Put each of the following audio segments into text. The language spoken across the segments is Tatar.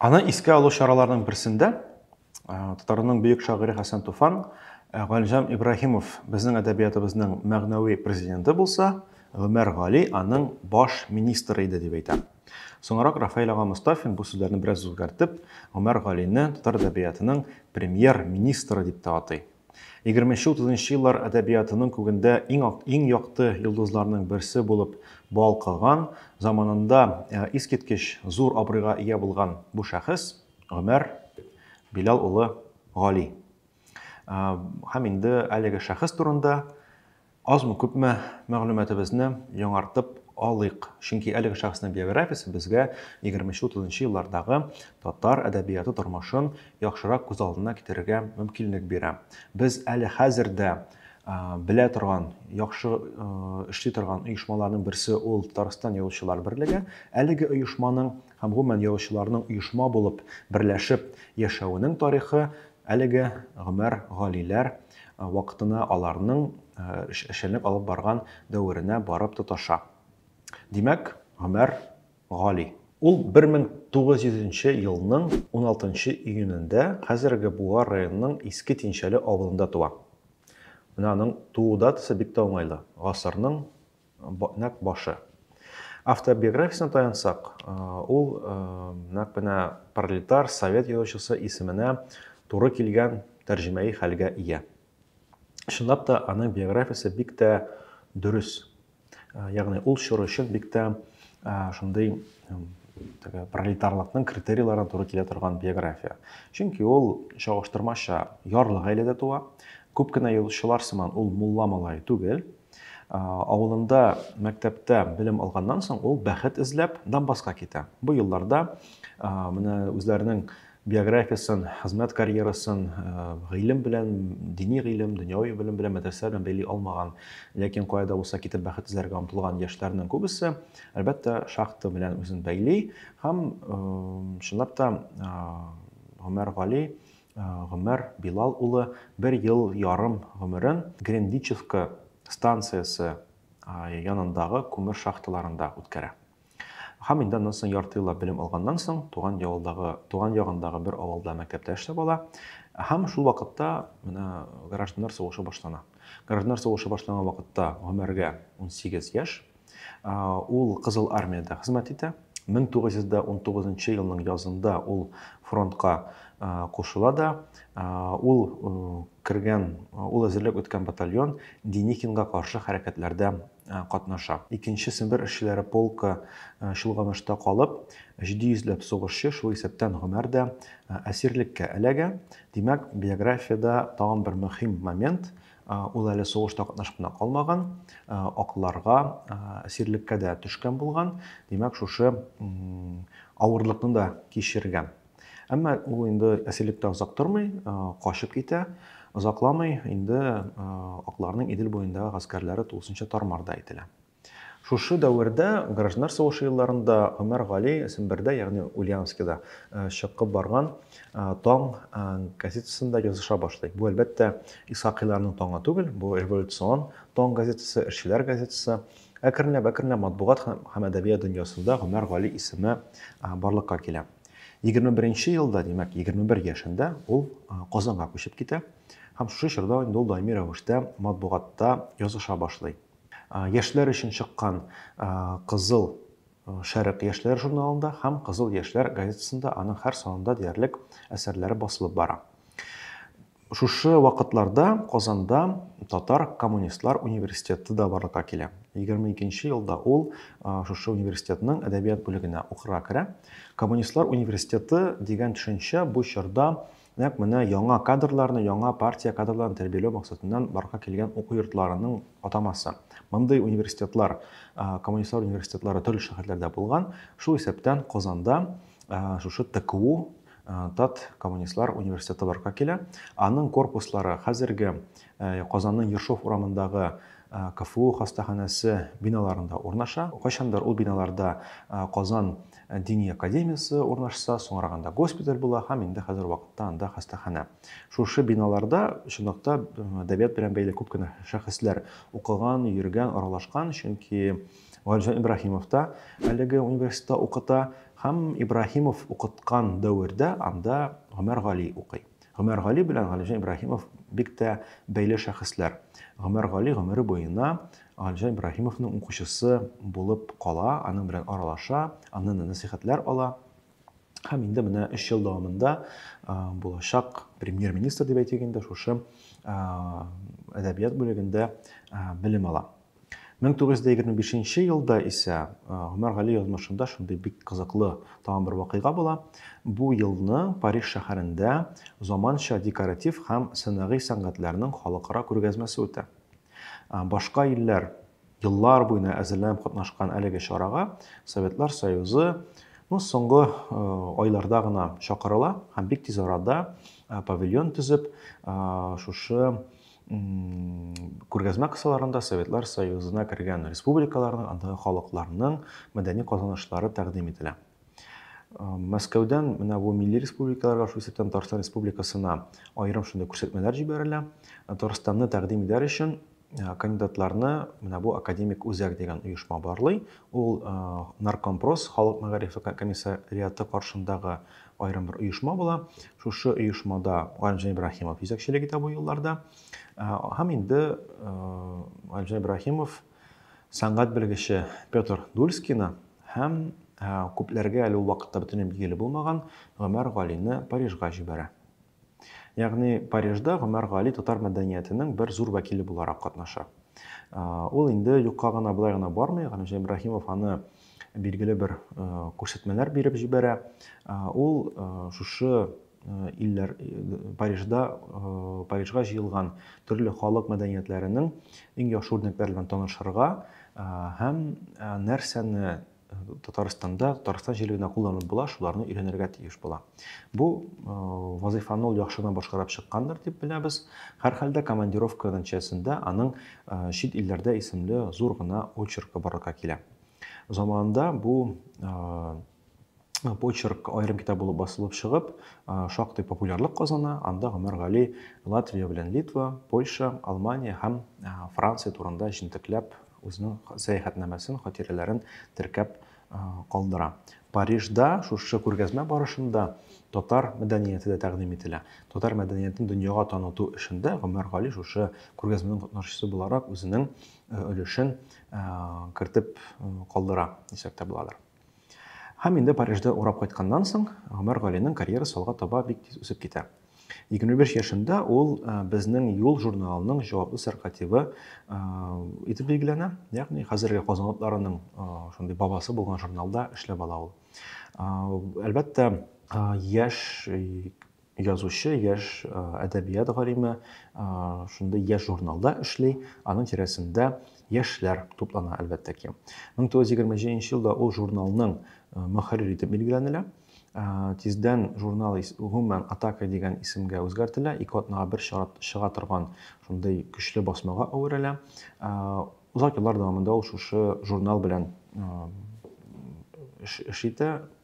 Аны искә алу чараларының берсендә татарның бөек шагыйре Хәсән Туфан Галимҗан Ибраһимов безнең әдәбиятыбызның мәгънәви президенты булса, Гомәр Гали аның баш министры иде дип әйтә. Соңрак Рафаэль ага Мостафин бу сүзләрне бераз үзгәртеп, Гомәр Галине татар әдәбиятының премьер-министры дип тә атый. Егерменче-утызынчы еллар әдәбиятының күгендә иң, иң якты йолдызларның берсе булып балкыган, заманында э, искиткеч зур абруйга ия булган бу шәхес Гомәр Билал улы Гали. Э, һәм инде әлеге шәхес турында Азмы-күпме мәгълүматыбызны яңартып алыйк, чөнки әлеге шәхеснең биографиясе безгә егерменче-утызынчы еллардагы татар әдәбияты тормышын яхшырак күз алдына китерергә мөмкинлек бирә. Без әле хәзер дә белә торган, яхшы эшли торган оешмаларның берсе ул Татарстан Язучылар берлеге. Әлеге оешманың һәм гомумән язучыларның оешма булып, берләшеп яшәвенең тарихы Әлеге Гомәр Галиләр вакытына, аларның эшчәнлек алып барган дәверенә барып тоташа. Димәк, Гомәр Гали. Ул 1900 нче елның 16 нчы июнендә хәзерге Буа районының Иске Тинчәле авылында туа. Менә аның туу датасы бик тә уңайлы, гасырның нәкъ башы. Автор биографиясенә таянсак, ул нәкъ менә пролетар совет язучысы исеменә туры килгән тәрҗемәи хәлгә ия. Чынлап та, аның биографиясе бик тә дөрес. Ягъни ул чор өчен бик тә шундый пролетарлыкның критерийларына туры килә торган биография. Чөнки ул чагыштырмача ярлы гаиләдә туа, күп кенә язучылар сыман ул мулла малае түгел, Авылында мәктәптә белем алганнан соң ул бәхет эзләп Донбасска китә. Бу елларда менә үзләренең биографиясын, хезмәт карьерасын гыйлем белән, дини гыйлем, дөньяви белем белән, мәдрәсә белән бәйли алмаган, ләкин кая да булса китеп бәхет эзләргә омтылган яшьләрнең күбесе, әлбәттә, шахта белән үзен бәйли һәм чынлап та Гомәр Гали Гомәр Билал улы бер ел ярым гомерен Гренвичевка станциясе янындагы күмер шахталарында үткәрә. Һәм инде аннан соң ярты еллап белем алганнан соң туган явылдагы, туган ягындагы бер авылда мәктәптә эшләп ала. Һәм шул вакытта менә гражданнар сугышы башлана. Гражданнар сугышы башланган вакытта Гомәргә 18 яшь. Ул Кызыл Армиядә хезмәт итә. 1919 елның язында ул фронтка кушыла да. Ул кергән, ул әзерлек үткән батальон Деникинга каршы хәрәкәтләрдә катнаша. Икенче Сембер эшчеләре полкы чолганышта калып, 700 ләп сугышчы, шул исәптән Гомәр дә әсирлеккә эләгә. Димәк, биографиядә тагын бер мөһим момент, Ул әле сугышта катнашып кына калмаган, акларга, сирлеккә дә төшкән булган, димәк, шушы авырлыкны да кичергән. Әмма ул инде әсирлектә озак тормый, качып китә. Озакламый инде акларның Идел буендагы гаскәрләре тулысынча тар-мар да ителә. Шушы дәвердә, гражданнар сугышы елларында Гомәр Гали Сембердә, ягъни Ульяновскида чыкып барган Таң газетасында языша башлый. Бу, әлбәттә, Исхакыйларның Таңы түгел, бу революцион Таң газетасы, эшчеләр газетасы. Әкренләп-әкренләп матбугат һәм әдәбият дөньясында Гомәр Гали исеме барлыкка килә. 21 елда, димәк, 21 яшендә ул Казанга күчеп китә һәм шушы чорда инде ул даими рәвештә матбугатта языша башлый. Яшьләр өчен чыккан Кызыл шәрык яшьләр журналында һәм Кызыл яшьләр газетасында аның һәр санында диярлек әсәрләре басылып бара. Шушы вакытларда Казанда татар коммунистлар университеты да барлыкка килә. 22 елда ул шушы университетның әдәбият бүлегенә укырга керә. Коммунистлар университеты дигән төшенчә бу чорда Нәкъ менә яңа кадрларны, яңа партия кадрларын тәрбияләү максатыннан барлыкка килгән уку йортларының атамасы. Мондый университетлар, коммунистлар университетлары төрле шәһәрләрдә булган. Шул исәптән Казанда шушы ТКУ Тат коммунистлар университеты барлыкка килә. Аның корпуслары хәзерге Казанның Ершов урамындагы КФУ хастаханәсе биналарында урнаша. Кайчандыр ул биналарда Казан дини академиясе урнашса, соңрак анда госпиталь була һәм инде хәзер вакытта анда хастаханә. Шушы биналарда чынлыкта әдәбият белән бәйле күп кенә шәхесләр укыган, йөргән, аралашкан, чөнки Галимҗан Ибраһимов та әлеге университетта укыта һәм Ибраһимов укыткан дәвердә анда Гомәр Гали укый. Гомәргали белән Галимҗан Ибраһимов бик тә бәйле шәхесләр. Гомәргали гомере буена Галимҗан Ибраһимовның укучысы булып кала, аның белән аралаша, аннан да нәсыйхәтләр ала. Һәм инде менә өч ел дәвамында булачак премьер-министр дип әйтик инде шушы әдәбият бүлегендә белем ала. Мең тугыз йөз дә егерме бишенче елда исә Гомәр Гали язмышында шундый бик кызыклы тагын бер вакыйга була. Бу елны Париж шәһәрендә заманча декоратив һәм сәнәгый сәнгатьләрнең халыкара күргәзмәсе үтә. Башка илләр еллар буена әзерләнеп катнашкан әлеге чарага Советлар Союзы ну, соңгы айларда гына чакырыла һәм бик тиз арада павильон төзеп, шушы күргәзмә кысаларында Советлар Союзына кергән республикаларның, андагы халыкларның мәдәни казанышлары тәкъдим ителә. Мәскәүдән менә бу милли республикаларга, шул исәптән Татарстан Республикасына аерым шундый күрсәтмәләр җибәрелә. Татарстанны тәкъдим итәр өчен кандидатларны менә бу академик үзәк дигән оешма барлый. Ул Наркомпрос халык мәгарифе комиссариаты каршындагы аерым бер оешма була. Шушы оешмада Галимҗан Ибраһимов җитәкчелек итә бу елларда. Һәм инде Галимҗан Ибраһимов сәнгать белгече Петр Дульскина һәм күпләргә әле ул вакытта бөтенләй билгеле булмаган Гомәр Галине Парижга җибәрә. Ягъни Парижда Гомәр Гали татар мәдәниятенең бер зур вәкиле буларак катнаша. Ул инде юкка гына былай гына бармый, Галимҗан Ибраһимов аны билгеле бер күрсәтмәләр биреп җибәрә. Ул шушы илләр Парижда Парижга җыелган төрле халык мәдәниятләренең иң яхшы үрнәкләре белән танышырга һәм нәрсәне Татарстанда, Татарстан җирлегенә кулланып була, шуларны өйрәнергә тиеш була. Бу э, вазифаны ул яхшы гына башкарып чыккандыр дип беләбез. Һәрхәлдә командировка нәтиҗәсендә аның э, чит илләрдә исемле зур гына очеркы барлыкка килә. Заманында бу э, почерк аерым китап булып басылып чыгып, шактый популярлык казана. Анда Гомәр Гали Латвия белән Литва, Польша, Алмания һәм Франция турында җентекләп Үзенең сәяхәтнамәсен, хатирәләрен теркәп калдыра. Парижда шушы күргәзмә барышында татар мәдәнияте дә тәкъдим ителә. Татар мәдәниятен дөньяга таныту эшендә Гомәр Гали шушы күргәзмәнең катнашчысы буларак үзенең өлешен кертеп калдыра дисәк тә буладыр. Һәм инде Парижда урап кайтканнан соң, Гомәр Галинең карьерасы алга таба бик тиз үсеп китә. 25 яшендә ул э, безнең Юл журналының җаваплы сәркатибы э, итеп билгеләнә. Ягъни хәзерге Казан атларының э, шундый бабасы булган журналда эшләп ала ул. Әлбәттә, яшь Язучы, яшь әдәбият галиме шундый яшь журналда эшли, аның тирәсендә яшьләр туплана, әлбәттә ки. 1927 елда ул журналның мөхәррир итеп билгеләнелә. Тиздән журнал гомумән атака дигән исемгә үзгәртелә, ике атнага бер чыга торган шундый көчле басмага әверелә. Озак еллар дәвамында ул шушы журнал белән эш итә,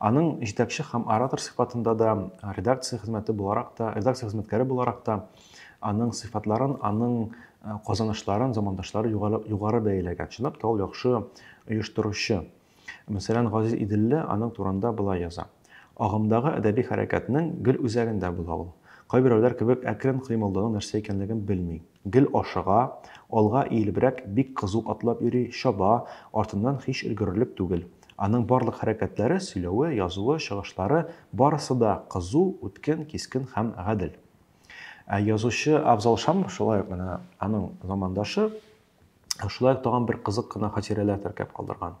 Аның җитәкче һәм оратор сыйфатында да, редакция хезмәте буларак та, редакция хезмәткәре буларак та аның сыйфатларын, аның э, казанышларын замандашлары югары, югары бәяләгән. Чынлап та ул яхшы оештыручы. Мәсәлән, Газиз Иделле аның турында болай яза. Агымдагы әдәби хәрәкәтнең гел үзәгендә була ул. Кайберәүләр кебек әкрен кыймылдауның нәрсә икәнлеген белми. Гел ашыга, алга иелебрәк, бик кызу атлап йөри, чаба, артыннан һич өлгерерлек түгел. Аның барлык хәрәкәтләре, сөйләве, язуы, чыгышлары, барысы да кызу, үткен, кискен һәм гадел. Ә язучы Афзал Шамов шулай ук менә аның замандашы, шулай ук тагын бер кызык кына хатирәләр теркәп калдырган.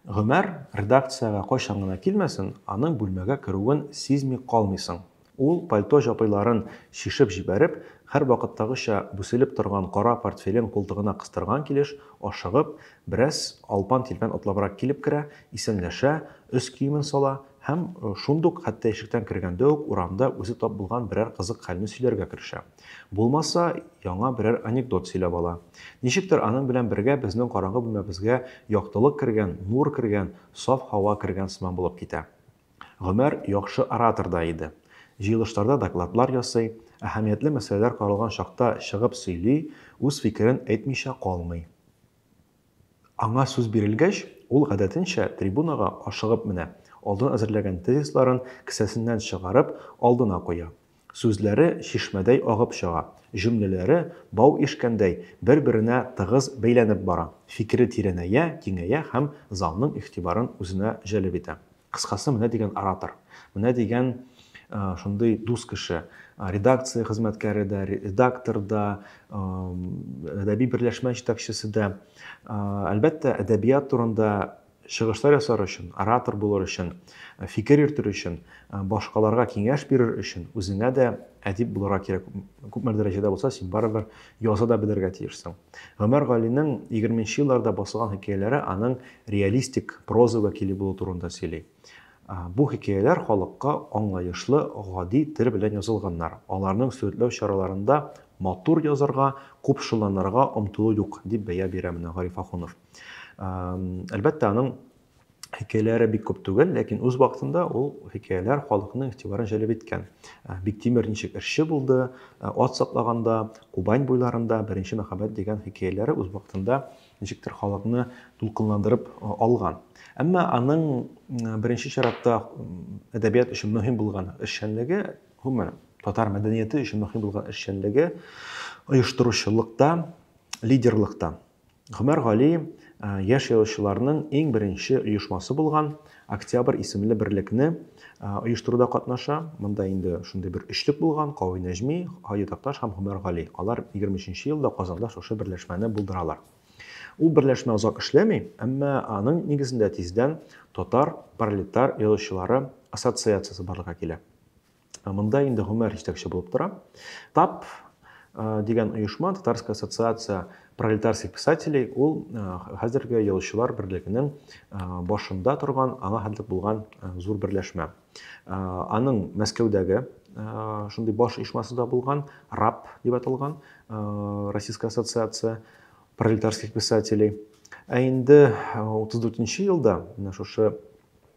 Гомәр редакциягә кайчан гына килмәсен, аның бүлмәгә керүен сизми калмыйсың. Ул, пальто җапыйларын чишеп җибәреп, һәрвакыттагыча бүселеп торган кара портфелен култыгына кыстырган килеш, ашыгып, бераз алпан-тилпән атлабрак килеп керә, исәнләшә, өс киемен сала һәм шундук, хәтта ишектән кергәндә үк, урамда үзе тап булган берәр кызык хәлне сөйләргә керешә. Булмаса, яңа берәр анекдот сөйләп ала. Ничектер аның белән бергә безнең караңгы бүлмәбезгә яктылык кергән, нур кергән, саф һава кергән сыман булып китә. Гомәр яхшы оратор да иде. Җыелышларда докладлар ясый, әһәмиятле мәсьәләләр каралган чакта чыгып сөйли, үз фикерен әйтмичә калмый. Аңа сүз бирелгәч, ул гадәтенчә трибунага ашыгып менә, алдан әзерләгән тезисларын кесәсеннән чыгарып, алдына куя. Сүзләре чишмәдәй агып чыга, җөмләләре, бау ишкәндәй, бер-беренә тыгыз бәйләнеп бара, фикере тирәнәя, киңәя һәм залның игътибарын үзенә җәлеп итә. Кыскасы, менә дигән оратор, менә дигән шундый дус кеше, редакция хезмәткәре дә, редактор да, әдәби берләшмә җитәкчесе дә. Әлбәттә, әдәбият турында чыгышлар ясар өчен, оратор булыр өчен, фикер йөртер өчен, башкаларга киңәш бирер өчен үзеңә дә әдип булырга кирәк. Күпмедер дәрәҗәдә булса, син барыбер яза да белергә тиешсең. Гомәр Галинең 20 нче елларда басылган хикәяләре аның реалистик проза вәкиле булу турында сөйли. Бу хикәяләр халыкка аңлаешлы, гади тел белән язылганнар. Аларның сурәтләү чараларында матур язарга, купшыланырга омтылу юк, дип бәя бирә менә Гариф Ахунов. Әлбәттә, аның хикәяләре бик күп түгел, ләкин үз вакытында ул хикәяләр халыкның игътибарын җәлеп иткән. Ә, Биктимер ничек эшче булды, ә, ат саклаганда, Кубань буйларында беренче мәхәббәт дигән хикәяләре үз вакытында ничектер халыкны дулкынландырып а, алган. Әмма аның м, беренче чиратта м, әдәбият өчен мөһим булган эшчәнлеге, гомумән, татар мәдәнияте өчен мөһим булган эшчәнлеге оештыручылыкта, лидерлыкта. Гомәр Галиев яшь язучыларның иң беренче оешмасы булган Октябрь исемле берлекне оештыруда катнаша. Монда инде шундый бер өчлек булган, Кави Нәҗми, Һади Такташ һәм Гомәр Гали. Алар 23 елда Казанда шушы берләшмәне булдыралар. Ул берләшмә озак эшләми, әмма аның нигезендә тиздән татар пролетар язучылары ассоциациясе барлыкка килә. Монда инде Гомәр җитәкче булып тора. ТАП дигән оешма, Татарская ассоциация пролетарских писателей, ул хәзерге язучылар берлегенең башында торган, аңа хәтлек булган зур берләшмә. Аның Мәскәүдәге шундый баш оешмасы да булган, РАП дип аталган, Российская ассоциация пролетарских писателей. Ә инде 34 елда, менә шушы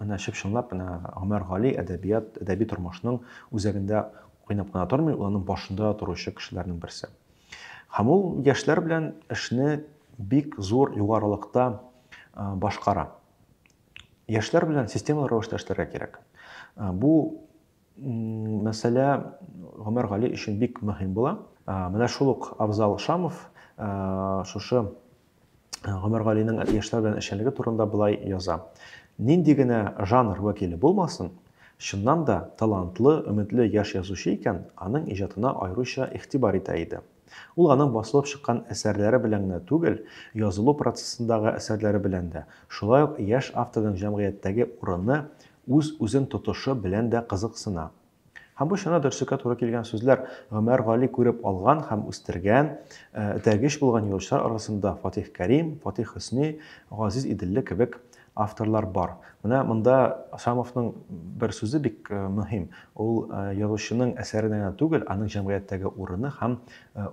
Менә чып-чынлап менә Гомәр Гали әдәбият, әдәби тормышның үзәгендә уйнап кына тормый, ул аның башында торучы кешеләрнең берсе. Һәм ул яшьләр белән эшне бик зур югарылыкта башкара. Яшьләр белән системалы рәвештә эшләргә кирәк. Бу мәсьәлә Гомәр Гали өчен бик мөһим була. Менә шул ук Абзал Шамов шушы Гомәр Галинең яшьләр белән эшчәнлеге турында былай яза. Нинди генә жанр вәкиле булмасын, чыннан да талантлы, өметле яшь язучы икән, аның иҗатына аеруча игътибар итә иде. Ул аның басылып чыккан әсәрләре белән генә түгел, язылу процессындагы әсәрләре белән дә, шулай ук яшь авторның җәмгыятьтәге урыны, үз-үзен тотышы белән дә кызыксына. Һәм бу чорны Дөрслеккә туры килгән сүзләр, Гомәр Гали күреп алган һәм үстергән, этәргеч булган юлчылар арасында Фатих Кәрим, Фатих Хөсни, Газиз Иделле кебек авторлар бар. Менә монда Шамовның бер сүзе бик мөһим, ул язучының әсәренә генә түгел, аның җәмгыятьтәге урыны һәм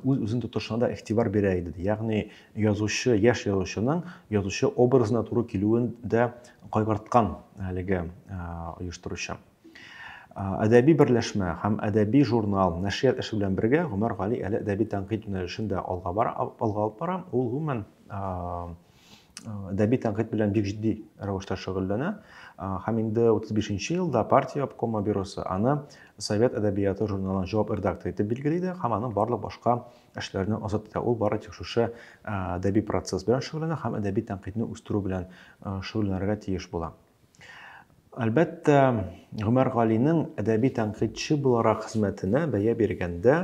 үз-үзен тотышына да игътибар бирә иде, ди. Ягъни, Язучы, яшь язучының язучы образына туры килүен дә кайгырткан әлеге оештыручы. Әдәби берләшмә һәм әдәби журнал, нәшрият эше белән бергә Гомәр Гали әле әдәби тәнкыйть юнәлешен дә алга бара, алга алып бара. Ул гомумән әдәби тәнкыйть белән бик җитди рәвештә шөгыльләнә. Һәм инде 35 елда партия обкомы бюросы аны Совет әдәбияты журналының җавап редакторы итеп билгели дә һәм аның барлык башка эшләрне азат итә. Ул бары тик шушы әдәби процесс белән шөгыльләнә һәм әдәби тәнкыйтьне үстерү белән шөгыльләнергә тиеш була. Әлбәттә, Гомәр Галинең әдәби тәнкыйтьче буларак хезмәтенә бәя биргәндә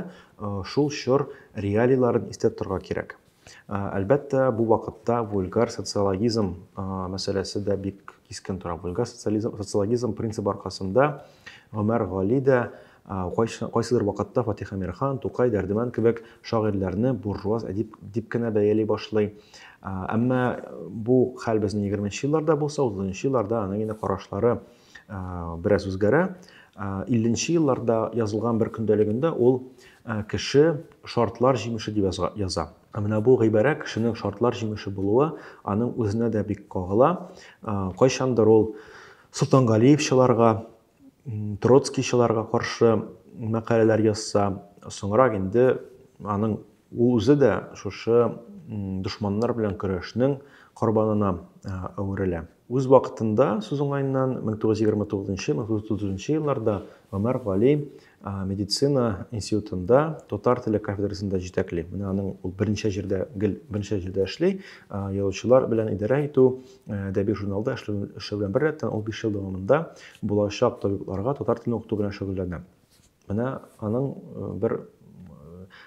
шул чор реалийларын истә торырга кирәк. Әлбәттә, бу вакытта вульгар социологизм мәсьәләсе дә бик кискен тора. Вульгар социализм, социологизм принцибы аркасында Гомәр Гали дә Ә кайсыдыр вакытта Фатих Әмирхан, Тукай, Дәрдемәнд кебек шагыйрьләрне буржуаз әдип дип кенә бәяли башлый. Әмма бу хәл безнең егерменче елларда булса, утызынчы елларда аның инде карашлары бераз үзгәрә. Илленче елларда язылган бер көндәлегендә ул кеше шартлар җимеше дип яза. Ә менә бу гыйбарә кешенең шартлар җимеше булуы аның үзенә дә бик кагыла. Кайчандыр ул Солтангалиевчыларга троцкийчыларга каршы мәкаләләр язса, соңрак инде аның ул үзе дә шушы дошманнар белән көрәшнең корбанына әверелә. Үз вакытында, сүз уңаеннан, 1929-1930 елларда Гомәр Гали медицина институтында татар теле кафедрасында җитәкли менә аның ул берничә җирдә гел берничә җирдә эшли язучылар белән идарә итү әдәби журналда эшләү белән беррәттән ул биш ел дәвамында булачак табибларга татар телен укыту белән шөгыльләнә менә аның бер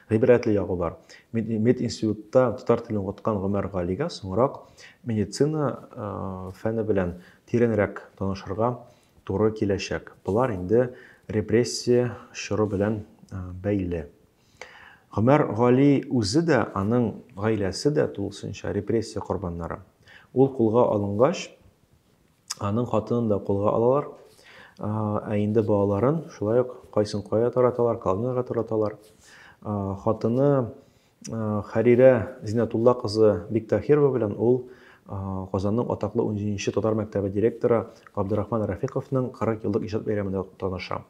гыйбрәтле ягы бар мединститутта татар телен укыткан гомәр галигә соңрак медицина фәне белән тирәнрәк танышырга туры киләчәк. Болар инде репрессия чоры белән бәйле. Гомәр Гали үзе дә, аның гаиләсе дә тулысынча репрессия корбаннары. Ул кулга алынгач, аның хатынын да кулга алалар, ә инде балаларын шулай ук кайсын кая тараталар, колонияләргә тараталар. Хатыны Хәрирә Зинатулла кызы Биктахирова белән ул Казанның атаклы 17-нче татар мәктәбе директоры Габдурахман Рафиковның 40 еллык иҗат бәйрәмендә таныша.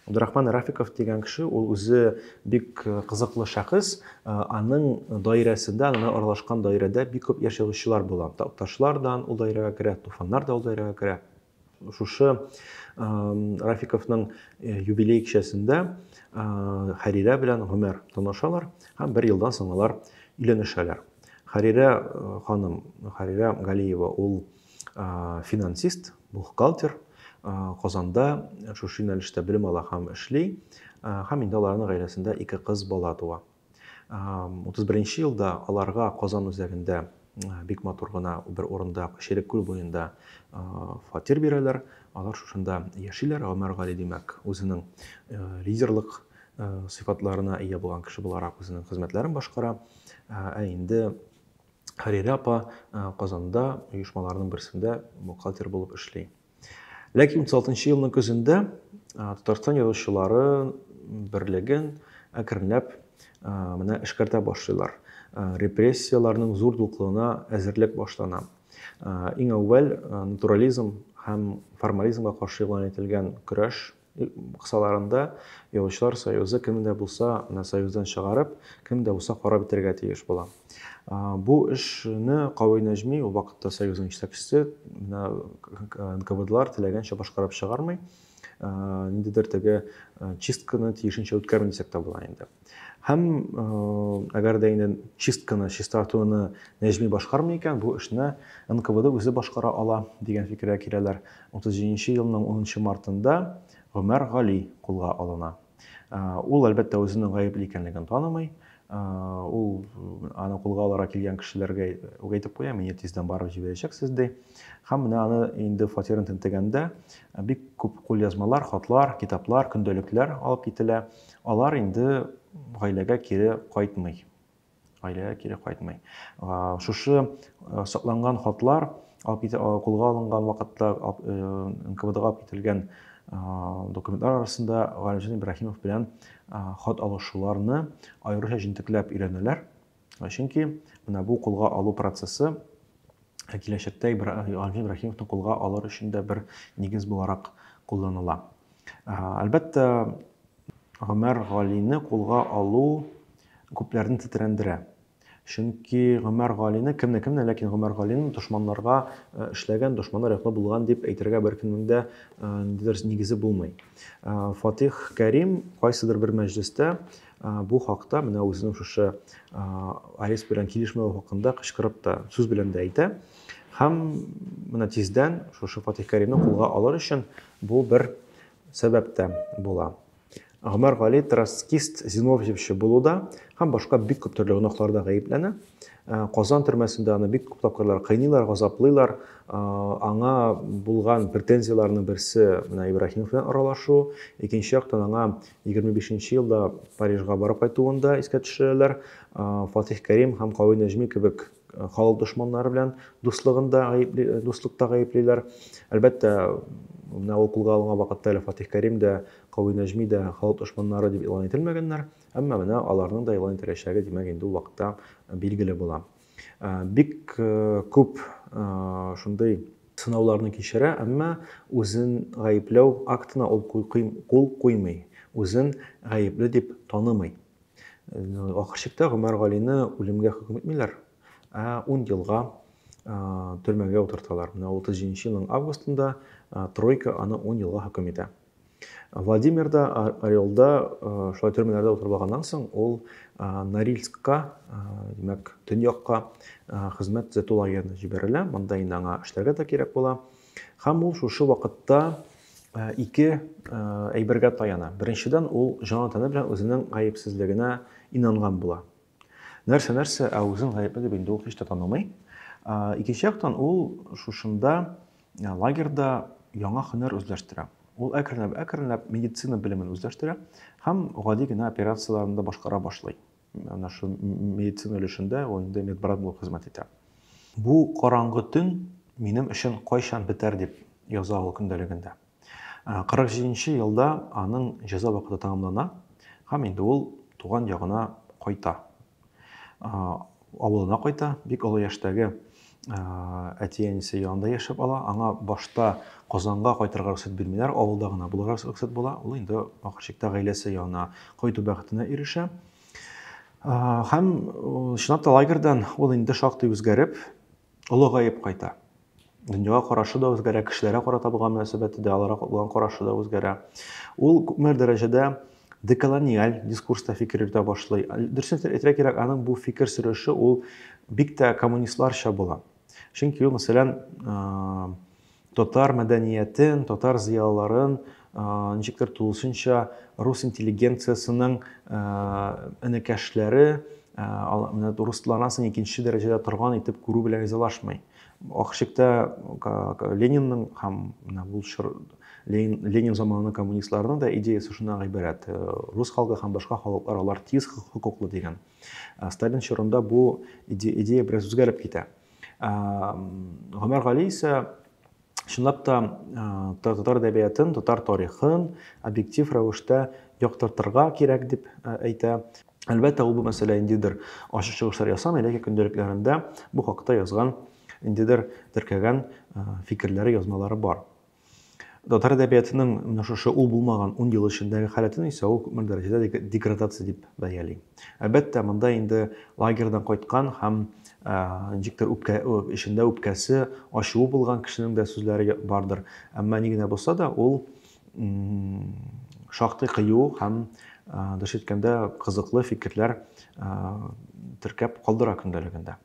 Габдурахман Рафиков дигән кеше ул үзе бик кызыклы шәхес, аның даирәсендә, аның аралашкан даирәдә бик күп яшь язучылар була. Такташлар да ул даирәгә керә, Туфаннар да ул даирәгә керә. Шушы Рафиковның э, юбилей кичәсендә э, Хәрирә белән Гомәр танышалар һәм бер елдан соң алар өйләнешәләр. Хәрирә э, ханым, Хәрирә Галиева ул финансист, бухгалтер, Казанда шушы юнәлештә белем ала һәм эшли, һәм инде аларның гаиләсендә ике кыз бала туа. Утыз беренче елда аларга Казан үзәгендә бик матур гына бер урында, Шерек күл буенда фатир бирәләр. Алар шушында яшиләр. Гомәр Гали, димәк, үзенең лидерлык сыйфатларына ия булган кеше буларак үзенең хезмәтләрен башкара. Ә инде Хәрирә апа Казанда оешмаларның берсендә бухгалтер булып эшли. Ләкин 36 елның көзендә Татарстан язучылары берлеген әкренләп менә эшкәртә башлыйлар. Репрессияләрнең зур дуклыгына әзерлек башлана. Иң әүвәл натурализм һәм формализмга каршы игълан ителгән көрәш Кысаларында, Язучылар союзы кемне дә булса менә союздан чыгарып, кемне дә булса карап бетерергә тиеш була. Бу эшне Кавый Нәҗми, ул вакытта союзның җитәкчесе, менә НКВДлар теләгәнчә башкарып чыгармый. Ниндидер теге чистканы тиешенчә үткәрми дисәк тә була инде. Һәм әгәр дә инде чистканы, чистартуны Нәҗми башкармый икән, бу эшне НКВД үзе башкара ала дигән фикергә киләләр. 37 нче елның 10 мартында Гомәр Гали кулга алына. Ул, әлбәттә, үзенең гаепле икәнлеген танымый. Ул аны кулга алырга килгән кешеләргә үк әйтеп куя, мине тиздән барып җибәрәчәксез, ди. Һәм менә аны инде фатирын тентегәндә, бик күп кулъязмалар, хатлар, китаплар, көндәлекләр алып кителә. Алар инде гаиләгә кире кайтмый. Гаиләгә кире кайтмый. Шушы сакланган хатлар кулга алынган вакытта НКВДга алып кителгән документлар арасында Галимҗан Ибраһимов белән хат алышуларны аеруча җентекләп өйрәнәләр. Чөнки менә бу кулга алу процессы Ә киләчәктә Ибраһим Рәхимовны кулга алыр өчен дә бер нигез буларак кулланыла. Әлбәттә, Гомәр Галине кулга алу күпләрне тетрәндерә. Чөнки Гомәр Галине кемне кемне, ләкин Гомәр Галине дошманнарга э, эшләгән, дошманнар яклы булган дип әйтергә беркемнең дә э, ниндидер нигезе булмый. Э, Фатих Кәрим кайсыдыр бер мәҗлестә Бу хакта менә үзенең шушы АЭС белән килешмәве хакында кычкырып та, сүз белән дә әйтә. Һәм менә тиздән шушы Фатих Кәримне кулга алыр өчен бу бер сәбәп тә була. Гомәр Гали троцкист зиновьевчы булуда һәм башка бик күп төрле гөнаһларда гаепләнә. Э, Казан төрмәсендә аны бик күп тапкырлар кыйныйлар, газаплыйлар. Э, аңа булган претензияләрнең берсе менә Ибраһимов белән аралашу, икенче яктан аңа 25 нче елда Парижга барып кайтуын да искә төшерәләр. Фатих Кәрим һәм Кави Нәҗми кебек халык дошманнары белән дуслыгын да гаепли, дуслыкта гаеплиләр. Әлбәттә, менә ул кулга алынган вакытта әле Фатих Кәрим дә, Кави Нәҗми дә халык дошманнары дип игълан ителмәгәннәр. Әмма менә аларның да игълан ителәчәге, димәк, инде ул вакытта билгеле була. Бик күп шундый сынауларны кичерә, әмма үзен гаепләү актына ул кул куймый, үзен гаепле дип танымый. Ахыр чиктә Гомәр Галине үлемгә хөкем итмиләр, ә 10 елга төрмәгә утырталар. Менә 37 елның августында тройка аны 10 елга хөкем итә. Владимирда, Орелда, шулай төрмәләрдә утырып алганнан соң, ул Норильскка, димәк, төньякка хезмәт төзәтү лагеренә җибәрелә. Монда инде аңа эшләргә дә кирәк була. Һәм ул шушы вакытта ике әйбергә таяна. Беренчедән, ул җан-тәне белән үзенең гаепсезлегенә инанган була. Нәрсә, нәрсә, ә үзен гаепле дип инде ул һич тә танымый. Икенче яктан ул шушында лагерьда яңа һөнәр үзләштерә. Ул әкренләп, әкренләп медицина белемен үзләштерә һәм гади генә операцияләрне дә башкара башлый. Менә шу медицина өлешендә ул инде медбрат булып хезмәт итә. Бу караңгы төн минем өчен кайчан бетәр дип яза ул көндәлегендә. 47 нче елда аның җәза вакыты тәмамлана һәм инде ул туган ягына кайта. Авылына кайта, бик олы яшьтәге әти-әнисе янында яшәп ала. Аңа башта Казанга кайтырга рөхсәт бирмиләр, авылда гына булырга рөхсәт була. Ул инде ахыр чиктә гаиләсе янына кайту бәхетенә ирешә. Һәм чынлап та лагерьдан ул инде шактый үзгәреп, олыгаеп кайта. дөньяга карашы да үзгәрә, кешеләргә карата булган мөнәсәбәте дә, аларга булган карашы да үзгәрә. Ул күпмедер дәрәҗәдә деколониаль дискурста фикер йөртә башлый. Дөресен әйтергә кирәк, аның бу фикер сөреше ул бик тә коммунистларча була. Чөнки ул, мәсәлән, татар мәдәниятен, татар зыялыларын ничектер тулысынча рус интеллигенциясенең энекәшләре, менә русланасын икенче дәрәҗәдә торган итеп күрү белән ризалашмый. Ахшикта Ленинның һәм менә бу чор Ленин, Ленин заманының коммунистларының да идеясы шуннан гыйбарәт. Э, рус халкы һәм башка халыклар алар тиз хокуклы дигән. Э, Сталин чорында бу идея бераз үзгәреп китә. Гомәр Гали исә чынлап та татар әдәбиятын, татар тарихын объектив рәвештә яктыртырга кирәк дип әйтә. Әлбәттә, ул бу мәсьәлә индидер ачык чыгышлар ясамый, ләкин көндәлекләрендә бу хакта язган, индидер теркәгән фикерләре, язмалары бар. Татар әдәбиятының менә шушы ул булмаган 10 ел эчендәге халәтен исә ул күпмедер дәрәҗәдә деградация дип бәяли. Әлбәттә, монда инде лагерьдан кайткан һәм ничектер үпкә эчендә үпкәсе, ачуы булган кешенең дә сүзләре бардыр. Әмма ни генә булса да, ул шактый кыю һәм дөрес әйткәндә кызыклы фикерләр теркәп калдыра көндәлегендә.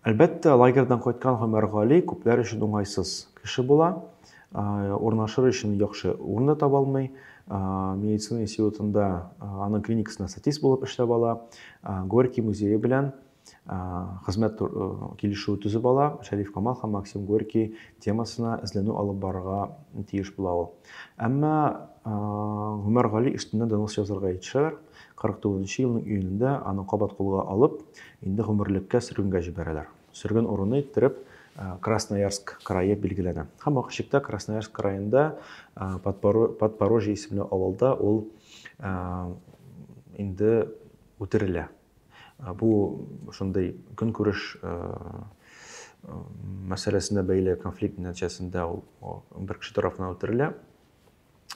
Әлбәттә, лагерьдан кайткан Гомәр Гали күпләр өчен уңайсыз кеше була. Урнашыр өчен яхшы урын да таба алмый. Медицина институтында аның клиникасында статист булып эшләп ала. Горький музее белән хезмәт килешүе төзеп ала. Шәриф Камал һәм Максим Горький темасына эзләнү алып барырга тиеш була ул. Әмма Гомәр Гали өстеннән донос язарга итешәләр. 49 нчы елның июнендә аны кабат кулга алып, инде гомерлеккә сөргенгә җибәрәләр. Сөрген урыны иттереп Красноярск крае билгеләнә. Һәм вакыт чиктә Красноярск краенда Подпорожье исемле авылда ул инде үтерелә. Бу шундый көнкүреш мәсьәләсенә бәйле конфликт нәтиҗәсендә ул бер кеше тарафыннан үтерелә.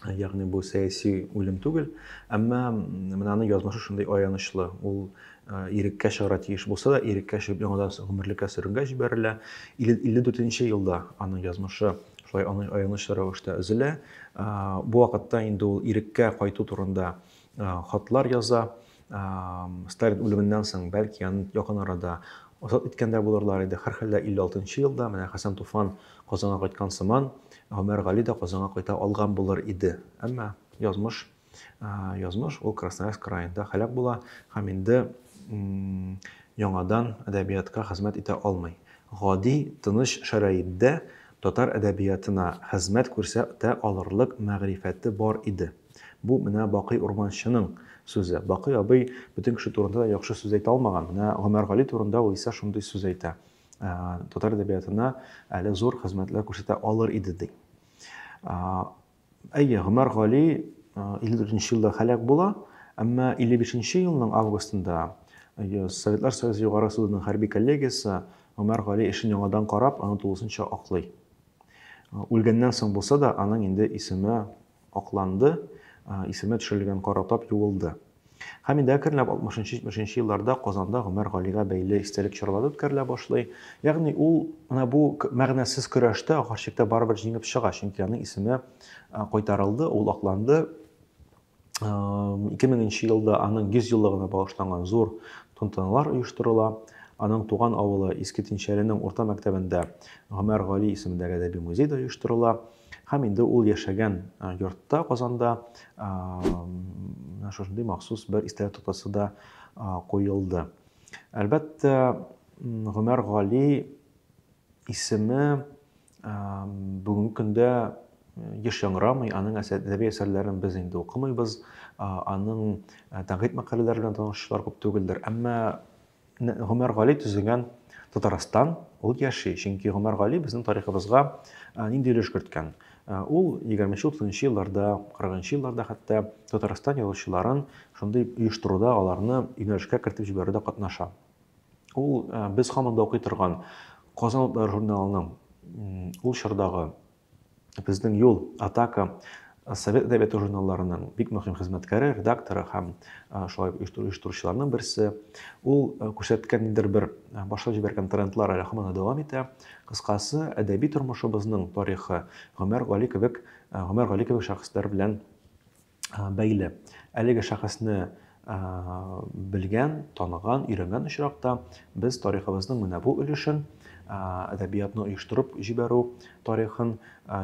Ягъни бу сәяси үлем түгел, әмма менә аның язмышы шундый аянычлы. Ул иреккә чыгара тиеш булса да, иреккә чыгып яңадан гомерлеккә сөргенгә җибәрелә. 54-нче елда аның язмышы шулай аянычлы рәвештә өзелә. Бу вакытта инде ул иреккә кайту турында хатлар яза. Сталин үлеменнән соң, бәлки, аны якын арада азат иткән дә булырлар иде. Һәрхәлдә 56 елда менә Хәсән Туфан Казанга кайткан сыман, Гомәр Гали дә Казанга кайта алган булыр иде. Әмма язмыш, язмыш ул Красноярск краенда һәлак була һәм инде яңадан әдәбиятка хезмәт итә алмый. Гади, тыныч шәрәиттә татар әдәбиятына хезмәт күрсәтә алырлык мәгърифәте бар иде. Бу менә Бакый Урманчының сүзе. Бакый абый бөтен кеше турында да яхшы сүз әйтә алмаган. Менә Гомәргали турында ул исә шундый сүз әйтә. Ә, татар әдәбиятына әле зур хезмәтләр күрсәтә алыр иде ди. Ә, әйе, Гомәргали 54 елда халәк була, әмма 55 елның августында Советлар Союзы Югары судының хәрби коллегиясе Гомәр Гали эшен яңадан карап, аны тулысынча аклый. Үлгәннән соң булса да, аның инде исеме Акланды, исеме төшерелгән кара тап юылды. Һәм инде әкренләп 60-70 елларда Казанда Гомәр Галигә бәйле истәлек чаралары үткәрелә башлый. Ягъни ул менә бу мәгънәсез көрәштә ахыр чиктә барыбер җиңеп чыга, чөнки аның исеме кайтарылды, ул акланды. 2000 елда аның 100 еллыгына багышланган зур тантаналар оештырыла. Аның туган авылы Иске Тинчәленең урта мәктәбендә Гомәр Гали исемендәге әдәби музей да оештырыла. Һәм инде ул яшәгән йортта, Казанда, шушындый махсус бер истәлек тотасы да куелды. Әлбәттә, Гомәр Гали исеме бүгенге көндә еш яңрамый, аның әдәби әсәрләрен без инде укымыйбыз, аның тәнкыйть мәкаләләре белән танышлар күп түгелдер. Әмма Гомәр Гали төзегән Татарстан, ул яши, чөнки Гомәр Гали безнең тарихыбызга нинди өлеш керткән? Ул 20-30 елларда, 40 елларда хәтта Татарстан язучыларын шундый оештыруда, аларны юнәлешкә кертеп җибәрүдә катнаша. Ул без һаман да укый торган Казан утлары журналының ул чордагы Безнең юл, атака, Совет әдәбияты журналларының бик мөһим хезмәткәре, редакторы һәм шулай оештыручыларның берсе. Ул күрсәткән ниндидер бер башлап җибәргән трендлар әле һаман дәвам итә. Кыскасы, әдәби тормышыбызның тарихы Гомәр Гали кебек, Гомәр Гали кебек шәхесләр белән бәйле. Әлеге шәхесне белгән, таныган, өйрәнгән очракта без тарихыбызның менә бу өлешен, әдәбиятны оештырып җибәрү тарихын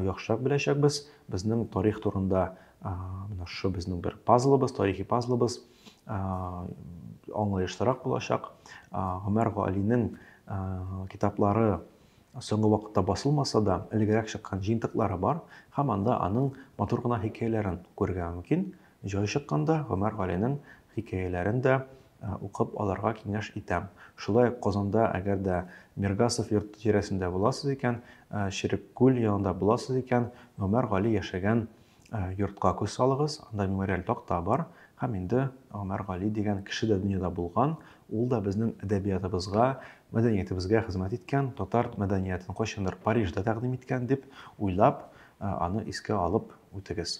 яхшырак беләчәкбез. Безнең тарих турында менә шушы безнең бер пазлыбыз, тарихи пазлыбыз аңлаешлырак булачак. Гомәр Галинең китаплары Соңгы вакытта басылмаса да, элегрәк чыккан җыентыклары бар һәм анда аның матур гына хикәяләрен күрергә мөмкин. Җай чыкканда, Гомәр Галинең хикәяләрен дә укып алырга киңәш итәм. Шулай ук Казанда, әгәр дә Миргасов йорты тирәсендә буласыз икән, Череккүл янында буласыз икән, Гомәр Гали яшәгән Йортка күз салыгыз, анда мемориаль такта бар һәм инде Гомәр Гали дигән кеше дә дөньяда булган, ул да безнең әдәбиятыбызга, мәдәниятебезгә хезмәт иткән, татар мәдәниятен кайчандыр Парижда тәкъдим иткән дип уйлап, аны искә алып үтегез.